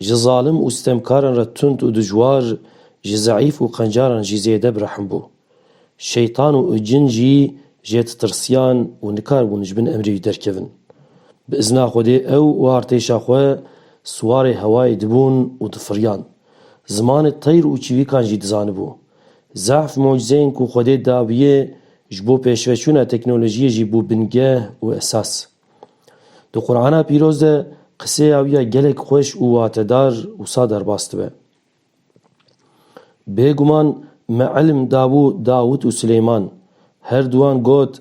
Ji zalim û sitemkaran re tund û dijwar, ji zeîf û qencaran jî zêde bi rehm bû. Şeytan û cin jî jê ditirsiyan û nikar bûn ji bin emrê wî derkevin. Bi izna Xwedê ew û artêşa xwe siwarê hewayê dibûn û difiriyan. Zimanê teyr û çivîkan jî dizanibû. Zehf mucizeyên ku Xwedê dabûye ji bo pêşveçûna teknolojiyê jî bû bingeh û esas. Di Qur'ana pîroz de qisêya wî ya gelek xweş û watedar wisa derbas dibe. Bêguman me ilm dabû Dawûd û Sileyman. Her duwan got,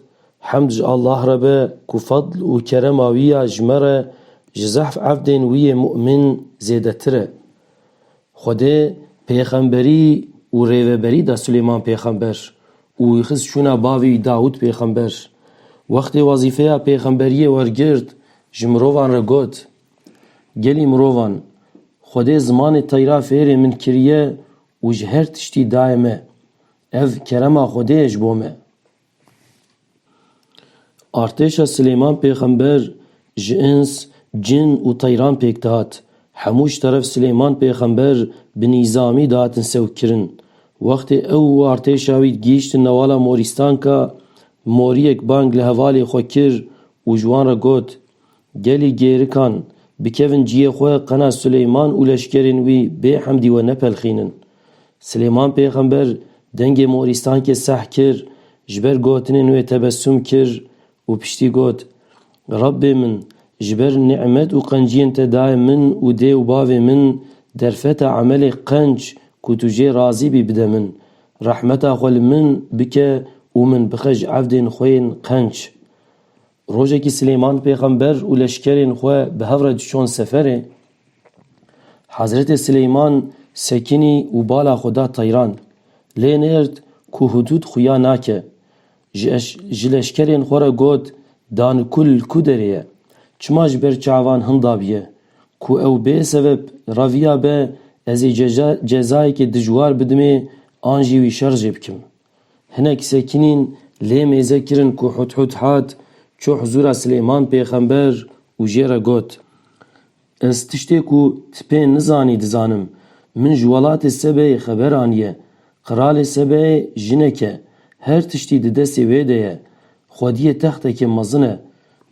Hemd ji Allah re be ku fadl û kerema wî ya ji me re ji zehf evdên wî yê mu'min zêdetir e. Xwedê pêxemberî û rêveberî da Sileyman pêxember Û xist çûna bavê wî Dawûd pêxember. Wextê wezîfeya pêxemberiyê wergirt, ji mirovan re got, Gelî mirovan, Xwedê zimanê teyra fêrê min kiriye û ji her tiştî daye me. Ev kerema Xwedê ye ji bo me. Artêşa Silêman Pêxember ji ins, cin û teyran pêk dihat. Hemû ji teref Silêman Pêxember bi nîzamî dihatin sewikkirin. Wextê ew û artêşa wî gihîştin newala Morîstanka, moriyek bang li hevalê xwe kir û ji wan re got, Gelî gêrikan bikevin ciyê xwe qena Silêman û leşkerên wî bê hemdî we nepelxînin. Silêman pêxember dengê morîstankê seh kir, ji ber gotinên wê tebessum kir û piştî got, Rebbê min, ji ber nîmet û qenciyên te dayê min û dê û bavê min derfeta emelê qenc ku tu jê razî bî bide min. Rehmeta xwe li min bike û min bixe ji evdên xwe yên qenc. Rojekî Silêman pêxember û leşkerên xwe bi hev re diçûn seferê, Hezretê Silêman sekinî û bala xwe da teyran. Lê nêrd ku hudûd xuya nake. Ji leşkerên xwe re got, Danikul li ku derê ye? Çima ji ber çavan hindabiye? Ku ew bê sebeb reviya be, ez ê cezayekê dijwar bidimê an jî wî şer jê bikim. Hinek sekinîn lê mêze kirin ku Hudhud hat, çû huzûra Silêman pêxember û jê re got, Ez tiştê ku ti pê nizanî dizanim. Min ji welatê Sebeyê xeber aniye. Qiralê Sebeyê jinek e. Her tiştî di destê wê de ye. Xwediyê textekê mezin e.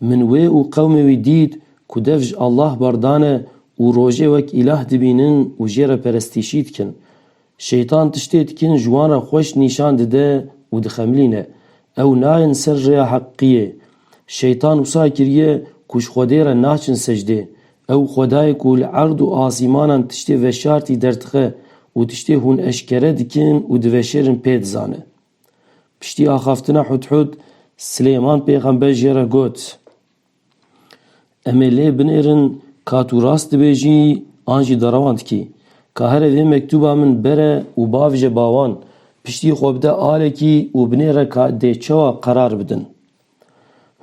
Min wê û qewmê wî dît ku dev ji Allah berdane û rojê wek îlah dibînin û jê re perestîşî dikin. Şeytan tiştê dikin ji wan re xweş nîşan dide û dixemilîne. Ew nayên ser rêya heqîqiyê. Şeytan wisa kiriye ku ji Xwedê re naçin secdê. Ew Xwedayê ku li erd û asîmanan tiştê veşartî derdixe û tiştê hûn eşkere dikin û diveşêrin pê dizane. Piştî axaftina Hudhud, Silêman pêxember jê re got. Em ê lê binêrin ka tu rast dibêjî an jî derewan dikî. Ka here vê mektûba min bere û bavêje bawan, piştî xwe bide alekî û binêre ka dê çawa qerar bidin.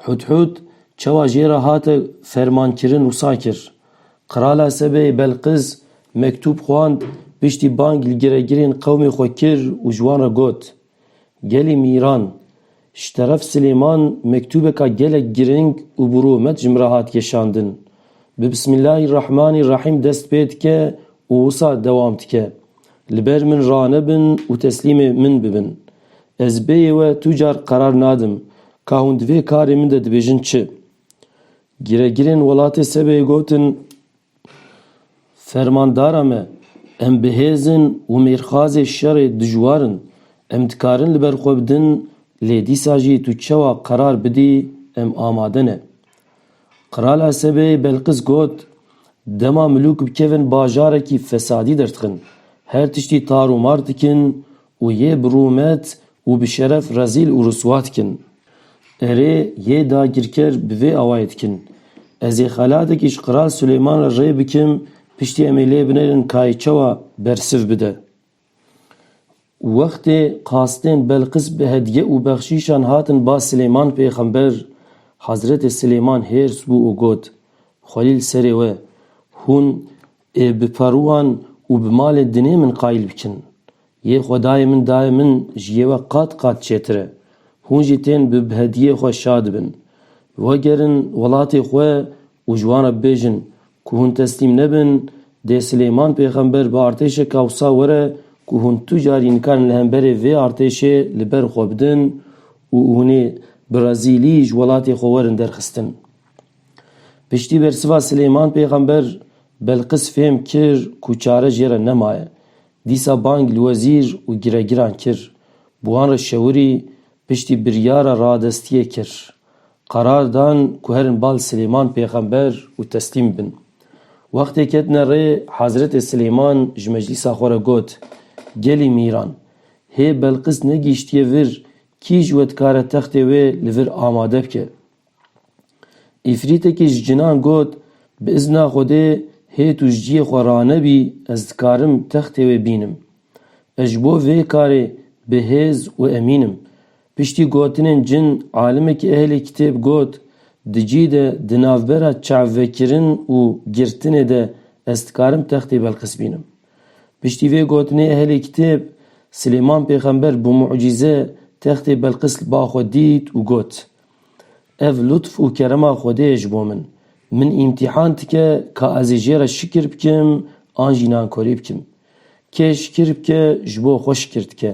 Hûdhûd çawa jê re hate fermankirin wisa kir. Qirala Sebeyê Belqîs mektûb xwand, piştî bang li giregirên qewmê xwe kir û ji wan re got, Gelê Mîran, Ji teref Silêman mektûbeka gelek giring û bi rûmet ji min re hat geşandin. Bi Bismîllahî Rehmanî Rehîm dest pê dike û wisa dewam dike, Li ber min ranebin û teslîmê min bibin. Ez bêyê we tu car qerar nadim ka hûn di vê karê min de dibêjin çi. Giregirên welatê Sebeyê gotin. Fermandara me, em bi hêz in û mêrxazê şerê dijwar in. Em dikarin li ber xwe bidin lê dîsa jî tu çewa qerar bidî em amade ne. Qral Esebê Belqis got, Dema milûk bikevin bajarekî fesadî derdixin, her tiştî tar û mar dikin û yê bi rûmet û bi şeref rezîl û riswa dikin. Erê, yê dagirker bi vê awayê dikin. Ez ê xelateke ji Qral Silêman re rê bikim, piştî em ê lê binêrin kayê çawa bersiv bide. Wextê qastên Belqis bi hedye û bexşîşan hatin ba Silêman pêxember, Hezretê Silêman hêrs bû û got, Xwelîl serê we, hûn Ê bi perowan û bi malê dinê min qayîl bikin. Yê xwedayê min dayê min ji yê we qat qat çêtir e. Hûn jî tên bi bi hediyê xwe şa dibin. Wegerin welatê xwe û ji wan re bibêjin ku hûn teslîm nebin, dê Silêman pêxember bi artêşeka wisa were ku hûn tu carî nikarin li hemberê vê artêşê li ber xwe bidin û hûn ê bi rezîlî ji welatê xwe werin derxistin. Piştî bersiva Silêman pêxember Belqis fêm kir ku çare jê re nemaye. Dîsa bang li wezîr û giregiran kir. Bi wan re şewirî piştî biryara radestiyê kir. Qerar dan ku herin bal Silêman pêxember û teslîm bin. Wextê ketine rê Hezretê Silêman ji meclîsa xwe re got, Gelî mîran! Hê Belqis negihîştiye vir kî ji we dikare textê wê li vir amade bike? Îfrîtekî ji cinan got, Bi îzna Xwedê hê tu ji ciyê xwe ranebî ez dikarim textê wê bînim. Ez ji bo vê karê bi hêz û emîn im. Piştî gotinên cin alimekî ehlê kitêb got, Di cî de di navbera çavvekirin û girtinê de ez dikarim textê Belqîs bînim. Piştî vê gotinê ehlê kitêb, Silêman pêxember bi mucîze textê Belqîs li ba xwe dît û got, Ev lutf û kerema Xwedê ye ji bo min. Min îmtîhan dike ka ez ê jê re şikir bikim an jî nankorî bikim. Kê şikir bike ji bo xwe şikir dike.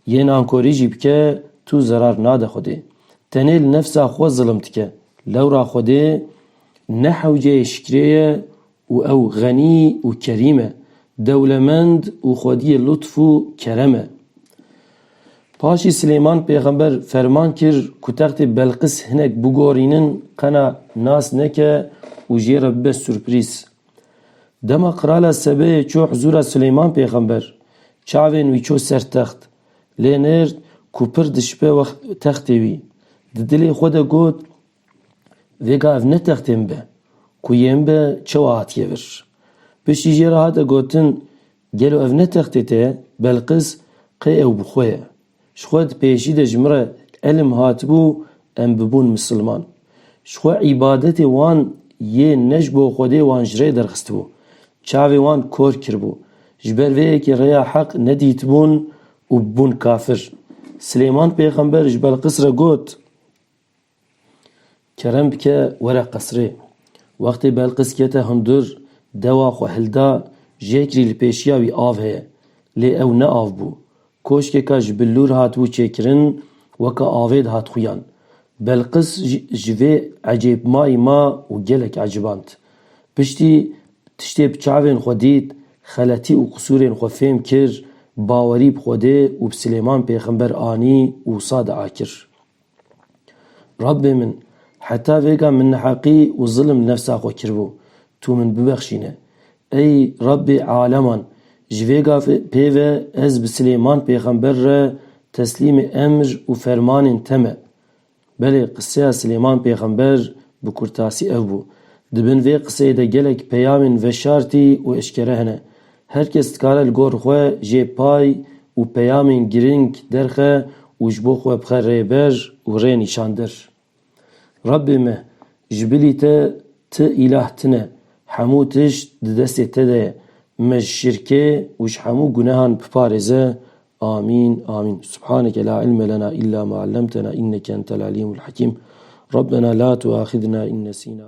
Yê nankorî jî bike tu zerar nade Xwedê. Tenê li nefsa xwe zilim dike. Lewra Xwedê ne hewceyê şikirê ye Û ew xenî û kerîm e, dewlemend û xwediyê lutf û kerem e. Paşî Silêman pêxember ferman kir ku textê Belqis hinek bigorînin qena nas neke û jê re bibe surprîz. Dema qirala Sebeyê çû hizûra Silêman pêxember, çavên wî çû ser text, lê nêrd ku pir dişipe textê wî. Di dilê xwe de got, Vêga ev ne textên be ku yên be çewa hatiye vir. Piştî jê re hate gotin gelo ev ne textê te ye, Belqis qê ew bi xwe ye. Ji xwe di pêşî de ji min re îlim hatibû em bibûn misilman. Ji xwe îbadetê wan yê ne ji bo Xwedê wan ji rê derxistibû. Çavê wan kor kiribû. Ji ber vê yekê rêya heq nedîtibûn û bibûn kafir. Silêman pêxember ji Belqis re got. Kerem bike were qesrê. Wextê Belqis kete hundir, dewa xwe hilda, jêkirî li pêşiya wî av heye. Lê ew ne av bû. Koşkeka ji billûr hatibû çêkirin, weke avê dihat xuyan. Belqis ji vê ecêbmayî ma û gelek eciband. Piştî tiştê bi çavên xwe dît, xeletî û qisûrên xwe fêm kir, bawerî bi Xwedê û bi Silêman Pêxember anî û wisa diakir. Rabbê min, heta vêga min neheqî û zilm li nefsa xwe kiribû, Tu min bibexşîne. Ey Rabbê aleman! Ji vê gavê pê ve ez bi Silêman pêxember re teslîmê emr û fermanên te me. Belê qiseya Silêman pêxember bi kurtasî ev bû. Di bin vê qiseyê de gelek peyamên veşartî û eşkere hene. Her kes dikare li gor xwe jê pay û peyamên girîng derxe û ji bo xwe bixe rêber û rênîşandir. Rabbê me, ji bilî te ti îlah tine, hemû tişt di destê te de ye, me ji şirkê û ji hemû gunehan biparêze. Amîn Amîn. Subhaneke la ilme lena îlla ma ellemtena înneke entel alîmul hakîm. Rabbena la tuaxidna in nesîna.